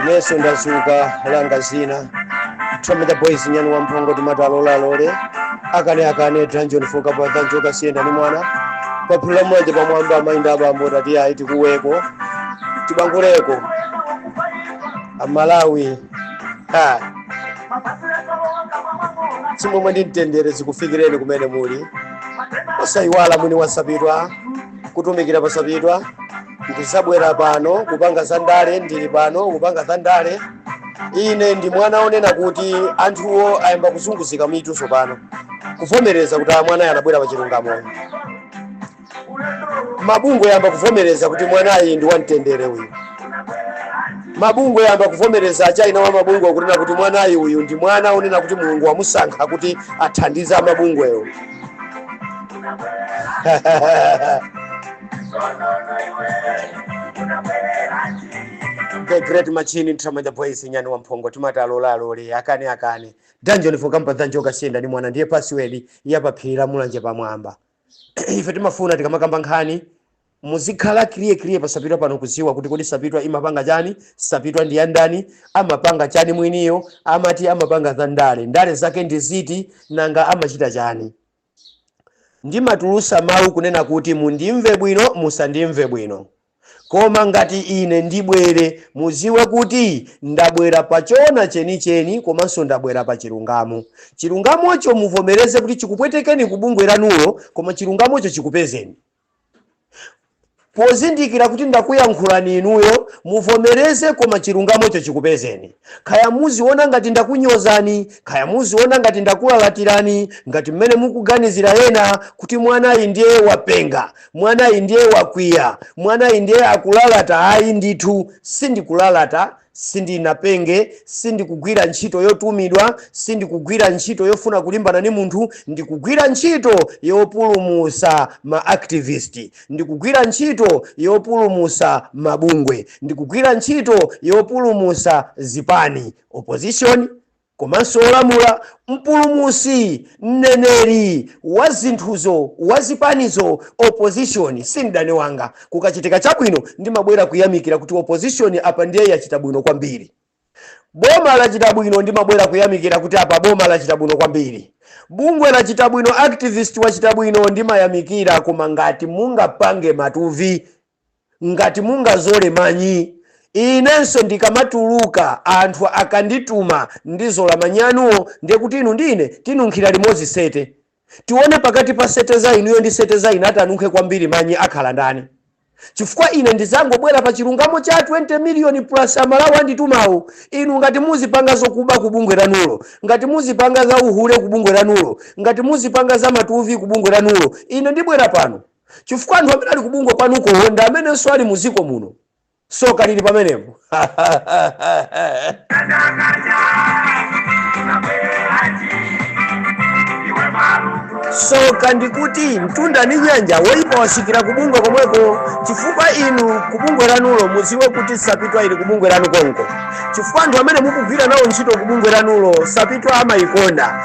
Inenso ndazuka langa zina Tome the boys nyani wa mphongo timati alola alole akana akane dungeon foka pa dungeon kasiyenda ndi mwana paphiri la Mulanje pamwamba amayi ndi abambo timati ayi tikuweko tibanguleko amalawi ha chimwemwe ndi mtendere zikufikireni kumene muli osayiwala mwini wasapitwa kutumikira pasapitwa ndinabwera pano kupanga za ndale ndili pano kupanga za ndale ine ndi mwana onena kuti anthuwo ayamba kuzunguzika mitu tsopano kuvomereza kuti a mwanayu anabwera pa chilungamo uyu mabungwe ayamba kuvomereza kuti mwanayu ndi wamtendere uyu mabungwe ayamba kuvomereza akuti ena wa mabungwe akunena kuti mwanayu uyu ndi mwana onena kuti mulungu wamusankha kuti athandize amabungwewo The great machine Tramanja Boys nyani wa mphongo timati alola alole akana akane dungeon for kampa dungeon kasiyenda ndi mwana ndiye password ya paphiri la mulanje pamwamba ife timafuna tikamakamba nkhani muzikhala clear clear pasapitwa pano kuziwa kuti kodi sapitwa imapanga chani sapitwa ndi yandani amapanga chani mwiniyo amati amapanga za ndale ndale zake ndi ziti nanga amachita chani ndimatulutsa mawu kunena kuti mundimve bwino, musandimve bwino. Koma ngati ine ndibwere, mudziwe kuti ndabwera pa choona chenicheni komanso ndabwera pa chilungamo. Chilungamocho muvomereze kuti chikupwetekeni ku bungwe lanulo, koma chilungamocho chikupezeni. Pozindikira kuti ndakuyankhulani inuyo, muvomereze koma chilungamocho chikupezeni. Kaya muziona ngati ndakunyozani, kaya muziona ngati ndakulalatirani, ngati mmene mukuganizira ena kuti mwanayu ndiye wapenga, mwanayu ndiye wakwiya, mwanayu ndiye akulalata ayi ndithu sindikulalata Sindinapenge, sindikugwira ntchito yotumidwa, sindikugwira ntchito yofuna kulimbana ndi munthu, ndikugwira ntchito yopulumutsa ma activist, ndikugwira ntchito yopulumutsa mabungwe, ndikugwira ntchito yopulumutsa zipani, opposition, Komanso olamula, mpulumutsi, mneneri, wa zinthuzo, wa zipanizo, opposition si mdani wanga. Kukachitika chabwino ndimabwera kuyamikira kuti opposition apa ndiye yachita bwino kwambiri. Boma lachita bwino ndimabwera kuyamikira kuti apa boma lachita bwino kwambiri. Bungwe lachita bwino, activist wachita bwino ndimayamikira koma ngati mungapange matuvi Ngati mungazole manyi inenso ndikamatuluka anthu akandituma ndizola manyi anuwo ndiye kuti inu ndi ine tinunkhira limodzi sete. Tione pakati pa sete za inuyo ndi sete za ine atanunkhe kwambiri manyi akhala ndani. Chifukwa ine ndidzangobwera pa chilungamo cha 20 miliyoni plus Amalawi anditumawo. Inu ngati muzipanga zokuba ku bungwe lanulo, ngati muzipanga za uhule ku bungwe lanulo, ngati muzipanga za matuvi ku bungwe lanulo, ine ndibwera pano. chifukwa anthu amene ali kubungwe kwanukowo ndi amenenso ali muziko muno soka lili pamenepo soka ndikuti mtunda ndi nyanja woyipa wasikira kubungwe komweko chifukwa inu kubungwe lanulo muziwe kuti sapitwa ili kubungwe lanu konko chifukwa anthu amene mukugwira nawo ntchito kubungwe lanulo sapitwa amayikonda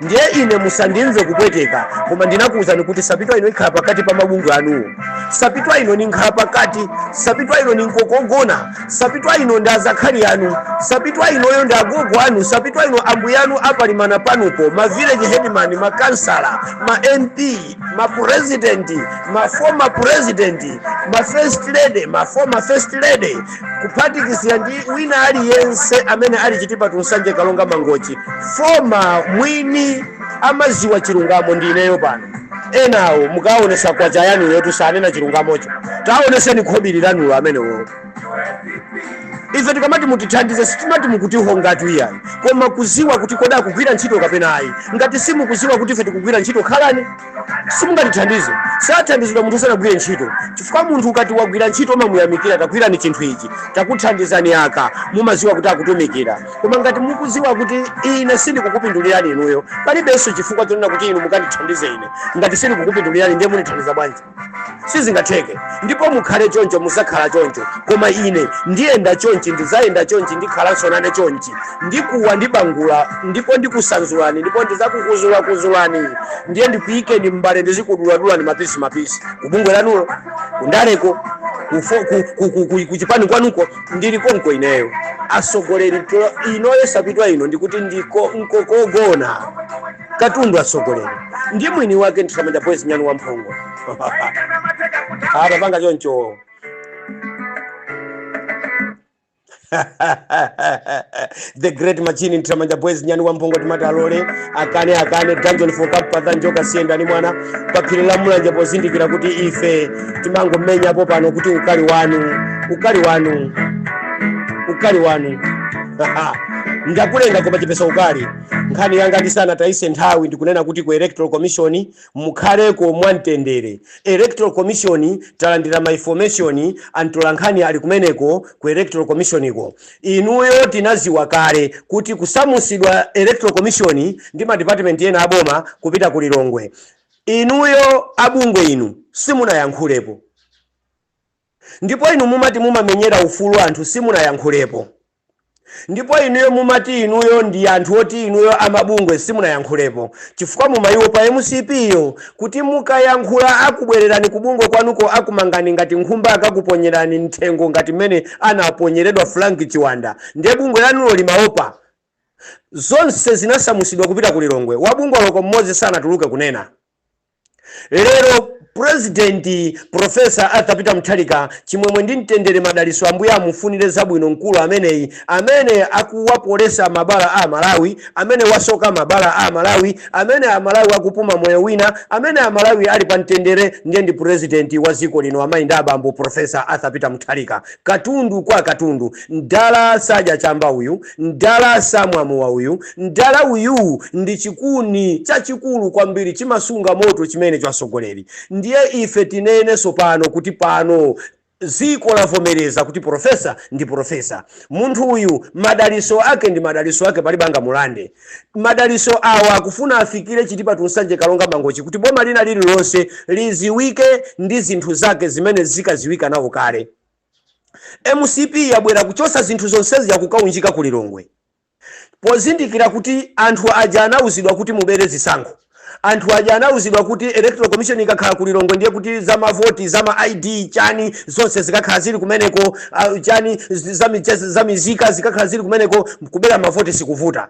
ndiye ine musandimve kupweteka koma ndinakuwuzani kuti sapitwa ino ikhala pakati pa mabungwe anuwo sapitwa ino ni nkhala pakati sapitwa ino ni nkokogona sapitwa ino ndi azakhali anu sapitwa inoyo ndi agogo anu sapitwa ino ambuya anu apalimana panupo ma village headman ma kansala ma mp ma president ma former president ma first lady ma former first lady kuphatikizira ndi wina aliyense amene ali chitipa to nsanje karonga mangochi foma mwini amaziwa chilungamo ndi ineyo pano enawo mukaonesa kwacha yanuyotu sanena chilungamocho taoneseni khobiri lanulo amenewo ife tikamati mutithandize sitimati mukutihongatu iyayi koma kuziwa kuti kodi akugwira ntchito kapena ayi ngati simukuziwa kuti ife tikugwira ntchito khalani simungatithandize sathandizidwa munthu sanagwire ntchito chifukwa munthu ukati wagwira ntchito umamuyamikira tagwirani chinthu ichi takuthandizani aka mumaziwa kuti akutumikira koma ngati mukuziwa kuti ine sindikukupindulirani inuyo palibenso chifukwa chonena kuti inu mukandithandize ine ngati sindikukupindulirani ndiye mundithandiza bwanji sizingatheke ndipo mukhale choncho muzakhala choncho koma ine ndiyenda chonchi ndizayenda chonchi ndikhalanso nane chonchi ndikuwa ndibangula ndipo ndikusanzulani ndipo ndizakukuzulakuzulani ndiye ndikuyikeni m'mbale ndizikuduladulani mapisi mapisi kubungwe lanulo kundaleko kufo- ku- ku- ku- ku- kuchipani kwanuko ndili konko ineyo asogoleri to- inoyo sapitwa ino ndikuti ndiko nkokogona katundu atsogoleri ndi mwini wake nthamanda boys nyani wa mphongo atapanga choncho the great machine nthamanda boys nyani wa mphongo timati alole akane akane dungeon for cup patha njoka siyenda ni mwana paphiri la mulanje pozindikira kuti ife timangomenyapo pano kuti ukali wanu ukali wanu ukali wanu ndakulenga koma chepesa ukali nkhani yanga ndisanatayise nthawi ndikunena kuti ku electoral commission mukhaleko mwamtendere electoral commission talandira ma information antola nkhani ali kumeneko ku electoral commission ko inuyo tinaziwa kale kuti kusamusidwa kwa electoral commission ndi ma department ena aboma kupita ku lilongwe inuyo abungwe inu simunayankhulepo ndipo inu mumati mumamenyera ufulu anthu simunayankhulepo Ndipo inuyo mumati inuyo ndi anthu oti inuyo amabungwe simunayankhulepo chifukwa mumayiwopa mcp yo kuti mukayankhula akubwelerani kubungwe kwanuko akumangani ngati nkhumba akakuponyerani mtchengo ngati mmene anaponyeredwa Frank Chiwanda nde bungwe lanulo limawopa? Zonse zinasamusidwa kupita ku Lilongwe, wabungwe oloko mmodzi sanatuluke kunena. Lero President Prof Arthur Peter Mutharika chimwemwe ndi mtendere madaliso Ambuye amufunile zabwino mkulu ameneyi amene akuwapolesa mabala a amalawi amene wasoka mabala a amalawi amene amalawi akupuma moyo wina amene amalawi ali pa mtendere ndiye ndi president wa ziko lino amayi ndi abambo Prof Arthur Peter Mutharika katundu kwa katundu mdala sadya chamba uyu Mdala samwa mowa uyu. Mdala uyuu ndi chikuni chachikulu kwambiri, chimasunga moto chimenecho atsogoleri. Ndiye ife tinene sopano kuti pano dziko lavomereza kuti purofesa ndi purofesa. Munthuyu, madaliso ake ndi madaliso ake, palibe angamulande. Madaliso awa akufuna afikire Chitipa to Nsanje Karonga Mangochi kuti boma lina lililonse liziwike ndi zinthu zake zimene zikaziwika nawo kale. Mcp yabwera kuchosa zinthu zonsezi yakukaunjika ku Lilongwe pozindikira kuti anthu aja anauzidwa kuti mubere zisankho, anthu aja anauzidwa kuti electoral commission ikakhala ku Lilongwe ndiye kuti za mavoti za ma ID chani zonse zikakhala zili kumeneko chani za mizika zikakhala zili kumeneko kubera mavoti sikuvuta.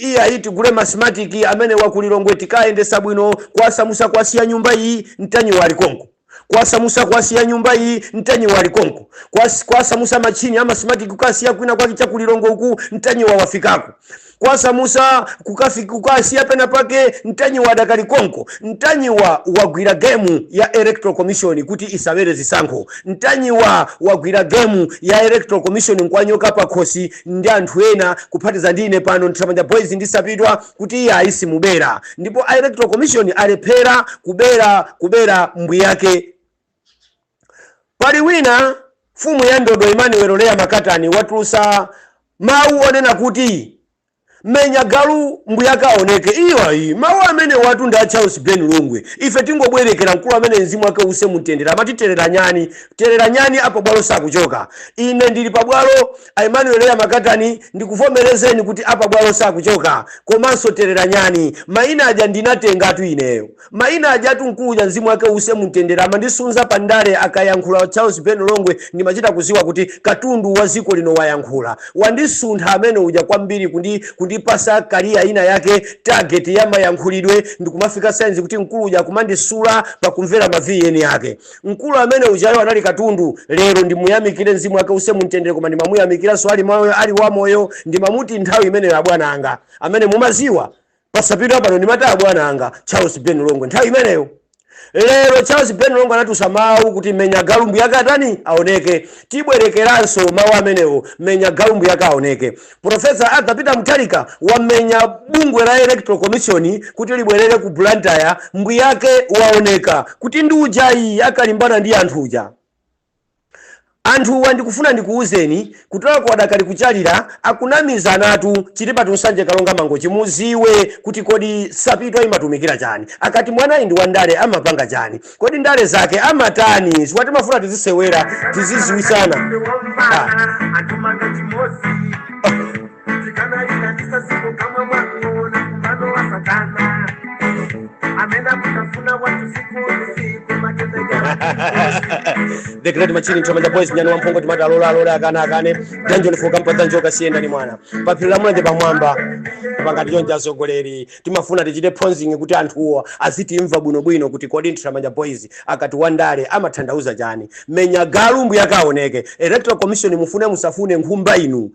Iyayi tigule ma smartic amenewa ku Lilongwe tikayendesa bwino kwasamusa kwasiya nyumba iyi ntanyiwa ali konko kwasamusa kwasiya nyumba iyi ntanyiwa ali konko kwas kwasamusa ma chini ama smartic kukasiya kwina kwake cha ku Lilongwe uku ntanyiwa wafikako kwasamusa kukafik kukasiya pena pake ntanyiwa adakali konko ntanyiwa wagwira gemu ya electoral commission kuti isabere zisankho ntanyiwa wagwira gemu ya electoral commission nkwanyoka pakhosi ndi anthu ena kuphatiza ndi ine pano Ntanyiwa Boys ndi Sapitwa kuti iyayi simubera ndipo a Electoral Commission alephera kubera kubera mbwiyake. Pali wina mfumu ya ndodo Emmanuel Leah Makatani watulusa mawu onena kuti Menya galu mbuyake aoneke. Iyo ayi. Mawu amenewatu ndi a Charles Ben Longwe. Ife tingobwerekera mkulu ameneyu mzimu wake uuse mu mtendere. Amati terera nyani. Terera nyani a pabwalo sakuchoka. Ine ndili pabwalo, a Emmanuel Leah Makatani, ndikuvomerezeni kuti a pabwalo sakuchoka. Komanso terera nyani. Maina aja ndinatengatu ineyo. Maina ajatu mkulu uja mzimu wake uuse mumtendere amandisunza pa ndale akayankhula Charles Ben Longwe ndimachita kuziwa kuti katundu wa ziko lino wayankhula. Wandisuntha amene uja kwambiri kundi kundipasa career ina yake target ya mayankhulidwe ndikumafika signs kuti mkulu uja akumandisula pakumvera ma VN ake. Mkulu amene ujayo anali katundu lero ndimuyamikire mzimu wake uuse mumtendere koma ndimamuyamikiranso ali moyo ali wamoyo ndimamuuza kuti nthawi imeneyo abwana anga amene mumaziwa Posachedwa apano ndinataya bwana anga Charles Ben Longwe nthawi imeneyo. Lero Charles Ben Longwe anatulutsa mawu kuti menya galu mbuyake atani aoneke. Tibwerekeranso mawu amenewo menya galu mbuyake aoneke. Professor Arthur Peter Mutharika wamenya bungwe la Electoral Commission kuti libwerere ku Blantyre mbuyake waoneka kuti ndi uja yi akalimbana ndi anthu uja. Anthuwa ndikufuna ndikuuzeni kutalaku adakali kuchalira akunamizana chilibatu nsanje kalonga mangochi muziwe kuti kodi sapitwa imatumikira chani akati mwanayi ndi wandale amapanga chani kodi ndale zake amatani chifukwa timafuna tizisewera tiziziwisana ah. tikanalinaisa siku kamwe mwakuona kumano wa satana amena kutafuna watu siku ni siku matendo ya the great machine nthiramanja boys nyani wamphongo timati alola alola akana akane danjoni fukafuka mpata njoka siyenda ndi mwana paphiri la mulanje pamwamba pa ngati nsonga asogoleri timafuna tichite phonzingi kuti anthuwo azitimva bwinobwino kuti kodi nthiramanja boys akati wandale amathandauza chani menya galu mbuyake aoneke electoral commission mufune musafune nkhumba inu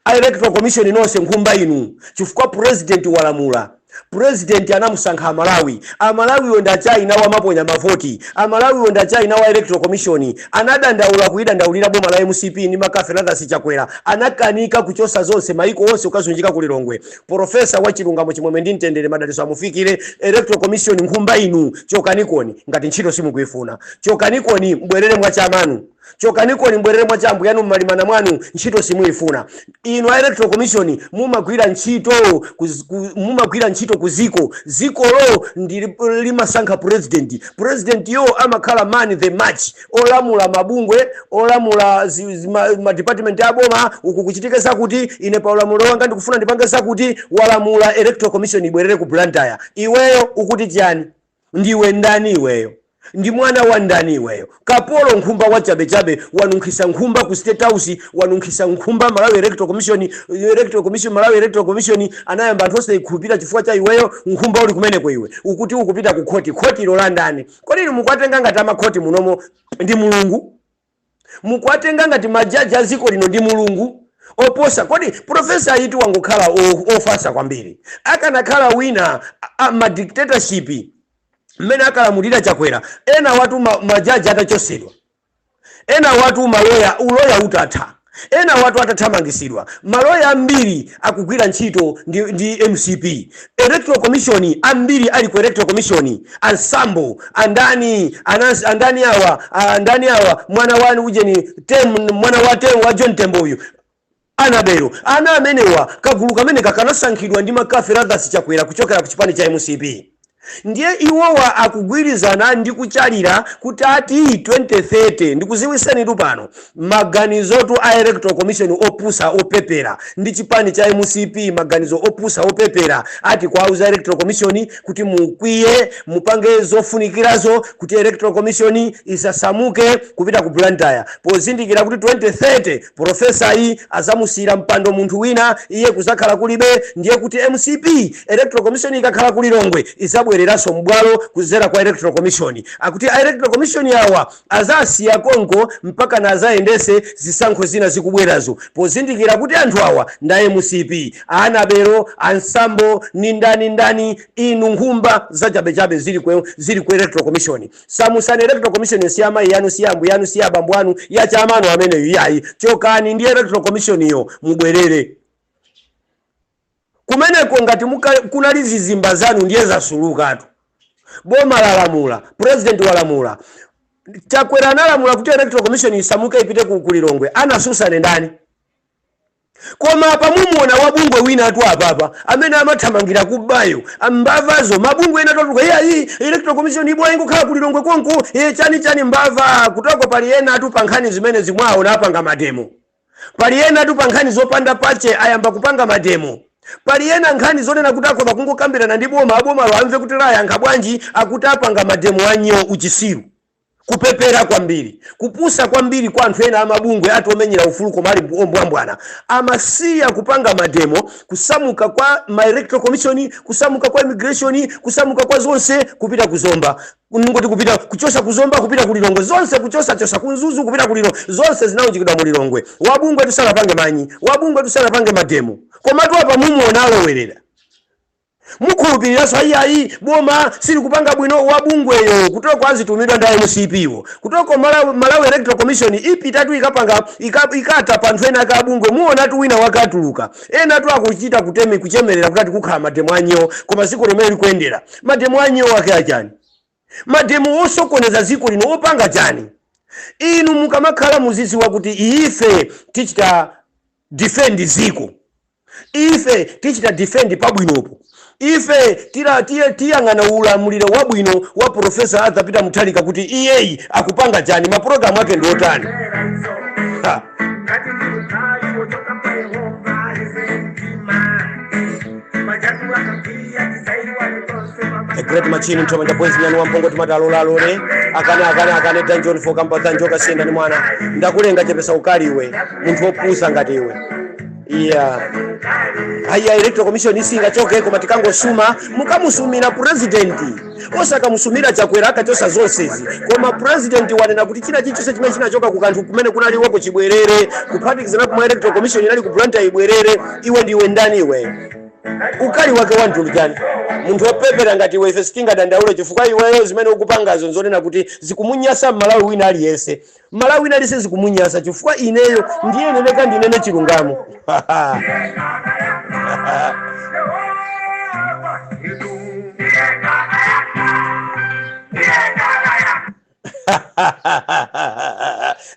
a electoral commission nonse nkhumba inu chifukwa president walamula president anamusankha amalawi amalawiwo ndi achina wamaponya mavoti amalawiwo ndi achina wa electoral commission anadandaula kuidandaulira boma la mcp ndi McCarthy Lazarus chakwera anakanika kuchosa zonse maliko onse ukuzunzika ku lilongwe profesa wa chilungamo chimwemwe ndi mtendere madaliso amufikire electoral commission nkhumba inu chokanikoni ngati ntchito simukuifuna chokanikoni mbwerere mwachamanu Chokanikoni mbwerere mwa cha ambwiyanu mmalimana mwanu ntchito simuifuna inu a electoral commission mumagwira ntchito ku mumagwira ntchito ku ziko zikolo ndi limasankha president president yo amakhala man of the match olamula mabungwe olamula ma, ma department a boma uku kuchitike zakuti ine pa ulamulo wanga ndikufuna ndipange zakuti walamula electoral commission ibwerere ku Blantyre iweyo ukuti chani Ndiwe ndani iweyo? Ndiwe mwana wa ndani iweyo? Kapolo, nkhumba wachabechabe, wanunkhisa nkhumba ku state house, wanunkhisa nkhumba Malawi Electoral Commission, Electoral Commission, Malawi Electoral Commission anayamba anthu osaikhulupirira chifukwa cha iweyo, nkhumba uli kumeneko iwe. Ukuti ukupita ku khoti, khotilo la ndani? Kodi inu mukuwatenga ngati amakhoti munomo ndi Mulungu? mukuwatenga ngati ma judge a dziko lino ndi Mulungu? Oposa kodi? Professor-yitu angokhala ofatsa kwambiri. Akanakhala wina a ma dictatorship mmene ankalamulira Chakwera enawatu ma judge atachotsedwa, enawatu ma lawyer u lawyer utatha. Enawatu atathamangitsidwa. Maloya ambiri akugwira ntchito ndi ndi mcp. Electoral commission ambiri ali ku electoral commission a Msambo, a ndani, a Nancy, a ndani awa, a ndani awa, mwana wa ujeni Tem, mwana wa Tem, wa John Tembo uyu, Anabelo. Ana amenewa, kagulu kameneka kanasankhidwa ndi Makafi Lazarus Chakwera kuchokera ku chipani cha mcp. Ndiye iwowa akugwirizana ndi kuchalira kutati 2030 ndikuziwisenitu pano maganizotu a electoral commission opusa opepera ndi chipani cha mcp maganizo opusa opepera ati kuwauza electoral commission kuti mukwiye mupange zofunikirazo kuti electoral commission isasamuke kupita ku Blantyre pozindikira kuti 2030 Professor-yi azamusiyira mpando munthu wina iye kuzakhala kulibe ndiye kuti mcp electoral commission ikakhala ku Lilongwe izabwereranso m'bwalo kuzera kwa electoral commission akuti a electoral commission awa azasiya konko mpaka nazayendese zisankho zina zikubwerazo pozindikira kuti anthu awa nda mcp anabelo a msambo ndi ndani ndani inu nkhumba zachabechabe zili ku electoral commission Samutsani electoral commission'yo si amayi anu si ambuye anu si abambo anu si achemwa anu ameneyu iyayi chokani ndi electoral commission'yo mubwerere kumeneko ngati kunali zizimba zanu ndiye zasulukatu boma lalamula president walamula Chakwera analamula kuti electoral commission isamuke ipite ku Lilongwe anasusane ndani Koma apa mumuona wa bungwe winatu apapa amene amathamangira kubayo mbavazo mabungwe ena totuluka iye ayi electoral commission ibwa ingokhala kulilongwe konko iye chani chani mbava kutoko pali enatu pa nkhani zimenezi mwaona apanga mademo pali enatu pa nkhani zopanda pache ayamba kupanga mademo pali ena nkhani zonena kuti akhoza kungokambirana ndi boma abomalo amve kuti layankha bwanji akuti apanga mademo anyo uchisiru Kupepera kwambiri, kupusa kwambiri kwa anthu ena amabungwe ati omenyera ufulu koma ali ombwambwana amasiya kupanga mademo kusamuka kwa ma electoral commission kusamuka kwa immigration kusamuka kwa zonse kupita ku zomba ngoti kupita kuchosa ku zomba kupita ku lilongwe zonse kuchosa chosa ku mzuzu kupita ku lilo zonse zinaunjikidwa mu lilongwe wabungwe tusanapange manyi wabungwe tusanapange mademo komatu apa mumuona alowerera Mukhulupiliranso ayi iyayi boma silikupanga bwino wabungweyo kutoko azitumidwa ndi a mcp wo kuteroko Malawi Malawi electoral commission ipitatu ikapanga ika ikata pa anthu ena ake abungwe muonatu wina wake atuluka enatu akuchita kutemi kuchemelera kuti ati kukhala mademo a nyoo koma ziko lomwe likuenda mademo a nyoo ake achani mademo osokoneza ziko lino opanga chani inu mukamakhala muziziwa kuti iyife tichita defend ziko. Ife tichita defend pabwinopo. Ife tila, tiye, tiyang'ana ulamuliro wabwino wa Professor Arthur Peter Mutharika kuti iyeyi akupanga chani, ma program ake ndi otani. Ha! Ngati ndi ukali wochoka kwa Yehova, yese mtima. Majatu akakwiya, tisaiwale tonse mama. The Great Machine Nthamanja Boys Nyani Wamphongo timati alola alole akane akane akane Dungeon for Kampatha Njoka Siyenda ndi mwana ndakulenga chepesa ukali iwe munthu wopusa ngati iwe iya ayi electoral commission isanachoke koma tikangosuma mukamusumira president osakamusumira chakwera anachosa zonsezi koma president wanena kuti china chilichonse chimene chinachoka ku kanthu kumene kunali iwoko chibwerere kuphatikizapo komwe electoral commission inali ku Blantyre ibwerere iwe ndiwe ndani iwe ukali wake wa mtundu chani munthu wopepera ngati iwe ife sitingadandaule chifukwa iweyo zimene ukupangazo nzonena kuti zikumunyasa mmalawi wina aliyense Mmalawi wina aliyense zikumunyasa chifukwa ineyo ndiye ndiyenereka ndinene chilungamo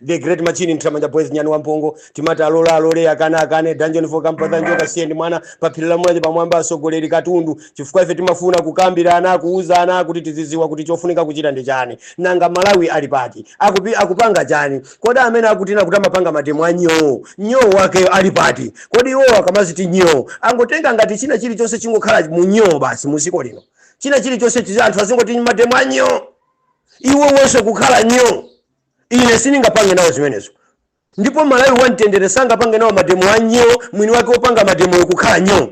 the great machine nthamanja boys nyani wamphongo timati alola alole akane akane dungeon for kampatha njoka siyenda ndi mwana paphiri la mulanje pamwamba asogoleri katundu chifukwa ife timafuna kukambirana, kuwuzana kuti tiziziwa kuti chofunika kuchita ndi chani. Nanga Malawi ali pati? Akupi, akupanga chani? Kodi amene akuti kuti amapanga mademo a nyoo, nyoo wakeyo ali pati? Kodi iwowo akamadziti nyoo, angotenga ngati china chilichonse chingokhala mu nyoo basi mu dziko lino? China chilichonse chizi, anthu azingoti mademo a nyoo? Iwowonso kukhala nyoo? Ine sindingapange nawo zimenezo. Ndipo Mmalawi wa mtendere sangapange nawo mademo a nyoo mwini wake opanga mademoyo kukhala nyoo.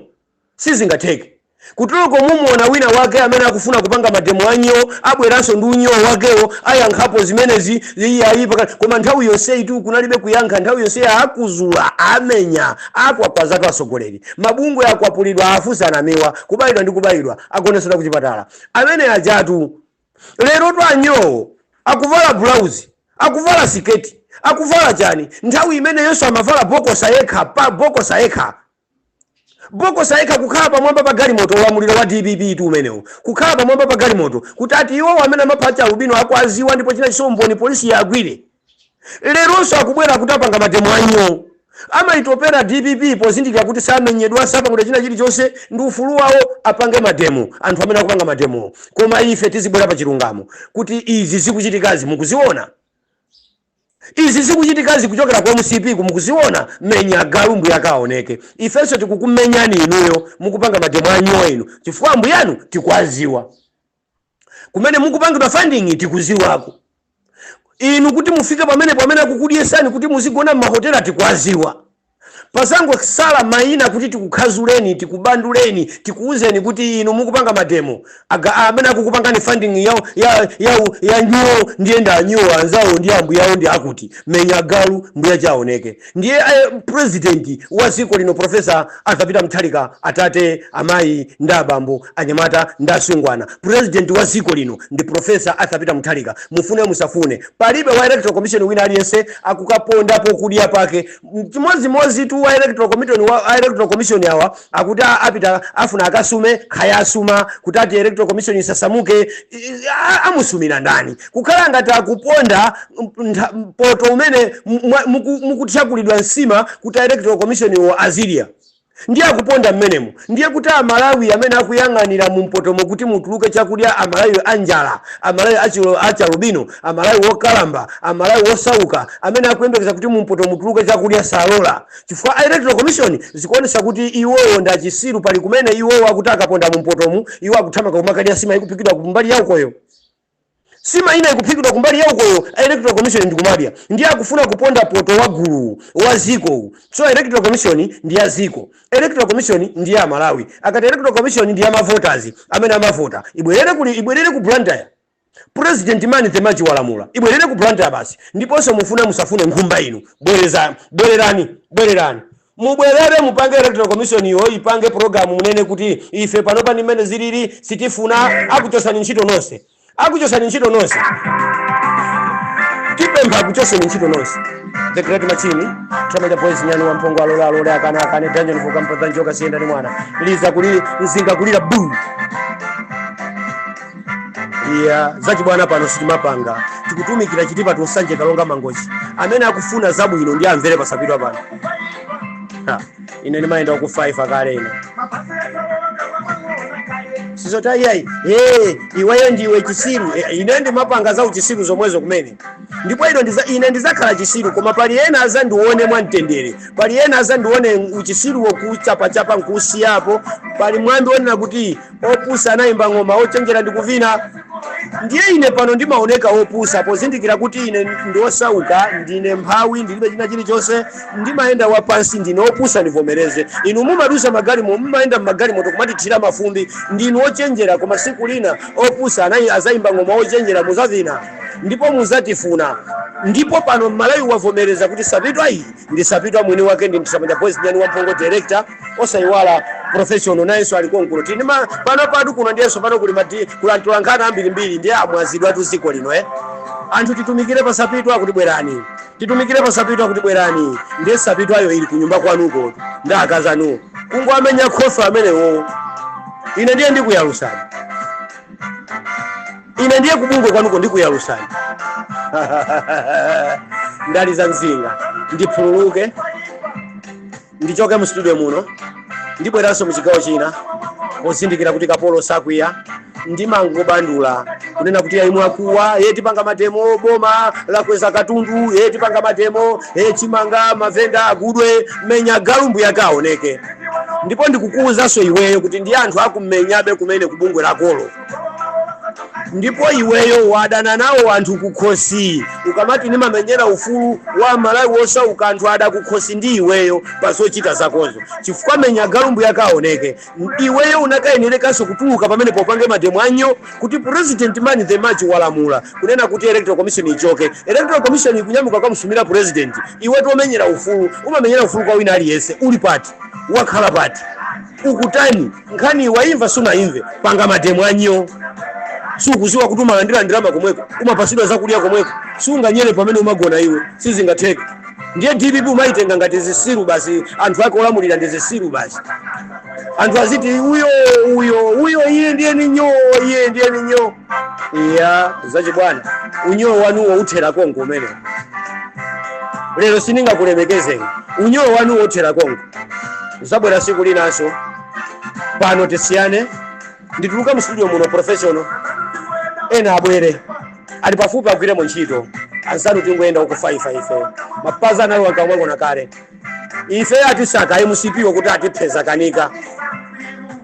Sizingatheke. Kuteroko mumuona wina wake amene akufuna kupanga mademo a nyoo abweranso ndi unyoo wakewo ayankhapo zimenezi iyayi pakana. Koma nthawi yonseyitu kunalibe kuyankha nthawi yonseyi akuzuza, amenya, akwakwazatu atsogoleri. Mabungwe akwapulidwa afunsana amenewa kubayidwa ndi kubayidwa agonesedwa kuchipatala. Amene ajatu. Lerotu anyoowo akuvala bulauzi, akuvala siketi, akuvala chani? Nthawi imene yonse amavala bokosa yekha bokosa yekha, bokosa yekha kukhala pamwamba pa galimoto. Ulamuliro wa dpp tu umenewo, kukhala pamwamba pa galimoto kuti ati iwowo amene amapha achialubino akuaziwa ndipo china chinso umboni polisi iagwire. Leronso akubwera kuti apanga mademo anyoo. Amayitopera dpp pozindikira kuti samenyedwa, sapangidwa china chilichonse, ndi ufulu wawo apange mademo anthu amene akupanga mademowo. Koma ife tizibwera pa chilungamo kuti izi zikuchitikazi mukuziona? Izi zikuchitikazi kuchokera ku mcp ku mukuziona? Menya agalu mbuyake aoneke. Ifenso tikukumenyani inuyo mukupanga mademo anyoo inu chifukwa ambuyanu tikuwaziwa. kumene mukupangidwa funding tikuziwako inu kuti mufike pamenepo amene akukudyesani kuti muzigona mmahotela tikuwaziwa pasangosala maina kuti tikukhazuleni tikubanduleni tikuuzeni kuti inu mukupanga mademo aga amene akukupangani funding ya ya ya, ya nyoo ndiye ndi anyoo anzawo ndi ambuyawo ndi akuti menya galu mbuyache aoneke Ndiye president wa ziko lino professor Arthur Peter Mutharika, atate, amayi ndi abambo, anyamata ndi asungwana, president wa ziko lino ndi professor Arthur Peter Mutharika. Mufune musafune palibe wa electoral commission wina aliyense akukaponda pokudya pake. Chimodzimodzi tu wa a electoral commission awa akuti apita afuna akasume kaya asuma kuti ati electoral commission isasamuke amusumira ndani kukhala ngati akuponda poto umene mukuthyakulidwa nsima kuti electoral commission wo azilira ndiye akuponda mmenemo ndiye kuti amalawi amene akuyang'anira mu mpotomo kuti mutuluke chakudya amalawi anjala amalawi achialubino amalawi wokalamba amalawi wosauka amene akuyembekeza kuti mu mpoto mutuluke chakudya salola Chifukwa a electoral commission zikuonetsa kuti iwowo ndi chisiru pali kumene iwowo akuti akaponda mu mpotomu iwo akuthamanga kumakadya nsima ikuphikidwa ku mbali ya ukoyo. Nsima ina ikuphikidwa kumbali ya ukoyo a electoral commission ndi kumadya. Ndiye akufuna kuponda poto wa guluwu wa dziko uwu. So electoral commission ndi ya dziko. Electoral commission ndi ya amalawi. Akati electoral commission ndi ya mavota amene amavota. Ibwerere kuli ibwerere ku Blantyre. President man of the match walamula ibwerere ku Blantyre basi ndiponso mufuna musafune nkhumba inu bwereza bwererani bwererani mubwerere mupange electoral commission yo ipange program munene kuti ife panopa ndi mmene zilili sitifuna akuchosani ntchito nonse akuchosani ntchito nonse tipempha akuchoseni ntchito nonse the great machine tramanja boys nyani wa mphongo alole alole akana akane dungeon for kampa dhanjoka siyenda ni mwana liza kulili nzinga kulira buu iya zachibwana pano sitimapanga tikutumikira chitipa to Nsanje Karonga mangochi amene akufuna zabwino ndiye amvere pasapitwa pano Ha, ine ndimayenda ku 5 akale ine sizota iyayi hey, iweyo ndiwe chisiru Eh, ine ndimapanga za uchisiru zomwezo kumene ndipo ine ndiza, ine ndizakhala chisiru koma pali ena azandione mwamtendere pali ena azandione uchisiruwo kuchapachapa nkusiyapo pali mwambi onena kuti opusa anayimba ng'oma ochenjera ndi kuvina ndiye ine pano ndimaoneka opusa pozindikira kuti ine ndiosauka ndine mphawi ndilibe china chilichonse ndimayenda wapansi ndine opusa ndivomereze inu mumadusa magalimo mumayenda mmagalimoto kumatithira mafumbi ndinu ochenjera koma siku lina opusa amene azayimba ng'oma ochenjera muzavina ndipo muzatifuna ndipo pano mmalawi wavomereza kuti sapitwa iyi ndi sapitwa mwini wake ndi mtsamanja boys nyani wamphongo director osayiwala professional nayenso ali konkuno tili ndi ma- pano patu kuno ndiyenso pano kuli madi kulantula nkhani ambirimbiri ndiye amwazidwa tu dziko lino eh anthu titumikire pasapitwa kuti bwerani titumikire pasapitwa kuti bwerani ndiye sapitwayo ili kunyumba kwanuko ndi akazi anuwo kungowamenya khofi amenewo ine ndiye ndikuyalusani ine ndiye kubungwe kwanuko ndikuyalusani ndaliza mzinga ndiphululuke ndichoke mu studio muno ndibweranso mu chigawo china pozindikira kuti kapolo sakwiya ndimangobandula kunena kuti ayi mwakuwa ye tipanga mademo boma lakweza katundu ye tipanga mademo ye chimanga mavenda agudwe menya galumbu yakaoneke ndipo ndikukuwuzanso iweyo kuti ndi anthu akumenyabe kumene kubungwe lakolo ndipo iweyo wadana nawo anthu kukhosi ukamati ndimamenyera ufulu wa malawi wosauka anthu ada kukhosi ndi iweyo pa zochita zakozo chifukwa menya galumbu yakaoneke iweyo unakayenerekanso kutuluka pamene upange mademo a nyoo kuti president man the match walamula kunena kuti electoral commission ichoke electoral commission ikunyamuka kamusumira president iwe womenyera ufulu umamenyera ufulu kwa wina aliyense uli pati wakhala pati ukutani Nkhaniyi waimva sunaimve? Panga mademo a nyoo! Sukuziwa kuti umalandira ndalama komweko? Umapasidwa zakudya komweko? Siunganyere pamene umagona iwe? Sizingatheke. Ndiye dpp umaitenga ngati zisiru basi anthu ake olamulira ndi zisiru basi. Anthu aziti uyo uyo uyo iye ndiye ni nyoo iye ndiye ni nyoo. Iya zachibwana unyoo wanuwo uthera komko umenewo. Lero sindingakulemekezeni. Unyoo wanuwo uthera konko. nzabwera siku linanso pano tisiyane ndituluka mu studio muno professional eni abwere ali pafupi agwiremo ntchito anzanu tingoyenda uku 5 ife mapazi analowa kamwangona kale ife atisaka mcp wakuti atiphe zakanika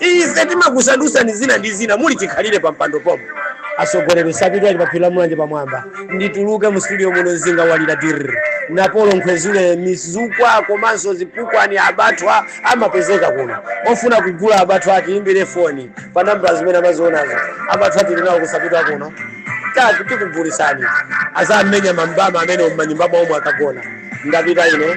Ife timakusandutsani zina ndi zina muli chikhalire pa mpando pomwe. Atsogoleri sapitwa ali pa phiri la Mulanje pamwamba. Ndituluke mu studio muno mzinga walira dirr. Napolo nkhwezule mizukwa komanso zipukwani abathwa amapezeka kuno. Ofuna kugula abathwa atiyimbire foni pa nambala zimene amazionazo. Abathwa tili nawo ku sapitwa kuno. Tatu tikugulitsani. Adzamenya mambama amenewo m'manyumba mwawo mwakagona. Ndapita ine.